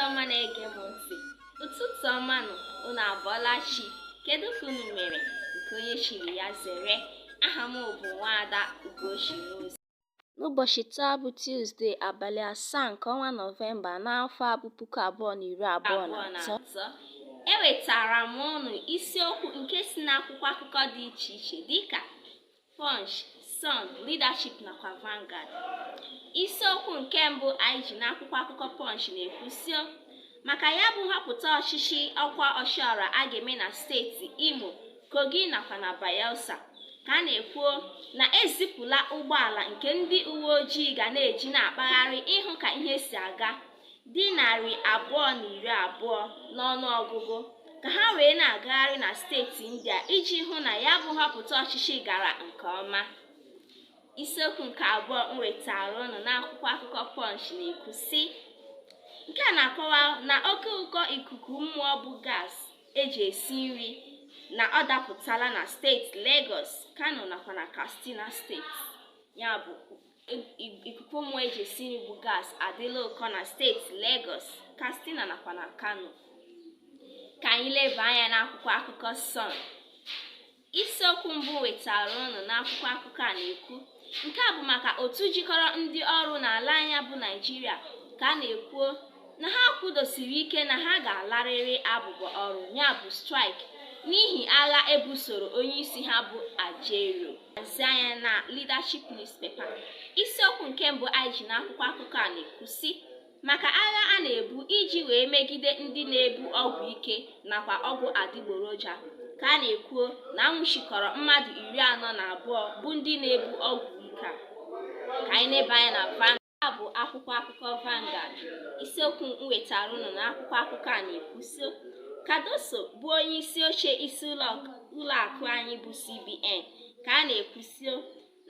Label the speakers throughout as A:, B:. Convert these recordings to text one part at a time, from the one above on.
A: ọma na-ege m ntị ụtụtụ ọma nụ unu abọọla chi kedu ka unu mere nke onye chiri ya zere aha m bụ nwaada ugochi n'ozi n'ụbọchị taa bụ tuzdee abalị asaa nke ọnwa nọvemba n'afọ a bụ puku abụọ na iri abụọ na atọ ewetara m unu isiokwu nke si n'akwụkwọ akụkọ dị iche iche dịka Punch, Sun, Leadership nakwa Vanguard. Isiokwu nke mbụ anyị ji n'akwụkwọ akụkọ Punch na-ekwusio maka ya bụ nhọpụta ọchịchị ọkwa ọchịọra a ga-eme na steeti Imo, Kogi nakwa na Bayelsa ka a na-ekwuo na ezipụla ụgbọala nke ndị uwe ojii ga na-eji na-akpagharị ịhụ ka ihe si aga dị narị abụọ na iri abụọ n'ọnụ ọgụgụ ka ha wee na-agagharị na steeti ndị a iji hụ na ya bụ nhọpụta ọchịchị gara nke ọma isiokwu nke abụọ m wetara unu n'akwụkwọ akụkọ Punch na-ekwu sị nke a na-akọwa na oke ụkọ ikuku mmụọ bụ gas eji esi nri na ọ dapụtala na steeti Lagos Kano nakwa na Katsina steeti ya bụ ikuku mmụọ eji esi nri bụ gas adịla ụkọ na steeti Lagos, Katsina nakwa na Kano ka anyị leba anya n'akwụkwọ akụkọ Sun isiokwu mbụ wetara unu n'akwụkwọ akụkọ a na-ekwu nke a bụ maka otu jikọrọ ndị ọrụ n'ala anyị a bụ Naijiria ka a na-ekwuo na ha kwudosiri ike na ha ga-alarịrị abụbọ ọrụ ya bụ strike n'ihi agha ebusoro onyeisi ha bụ Ajaero lezie anya na leadership newspaper isiokwu nke mbụ anyị ji n'akwụkwọ akụkọ a na-ekwu sị maka agha a na-ebu iji wee megide ndị na-ebu ọgwụ ike nakwa ọgwụ adịgboroja ka a na-ekwuo na anwụchikọrọ mmadụ iri anọ na abụọ bụ ndị na-ebu ọgwụ ike a ka anyị leba anya na van a bụ akwụkwọ akụkọ Vanguard isiokwu m wetara unu n'akwụkwọ akụkọ a na-ekwusio Cardoso bụ onye isi oche isi ụlọ akụ anyị bụ CBN ka a na-ekwusio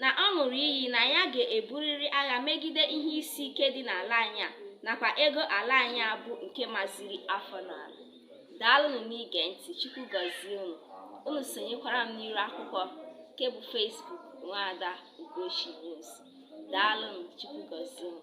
A: na ọ ṅụrụ iyi na ya ga-eburịrị agha megide ihe isi ike dị n'ala anyị a nakwa ego ala anyị a bụ nke maziri afọ n'ala daalụnụ n'ige ntị Chukwu gọzie unu unu sonyekwara m n'iru akwụkwọ nke bụ Facebook Nwaada Ugochi News daalụnụ chukwu gọzie unu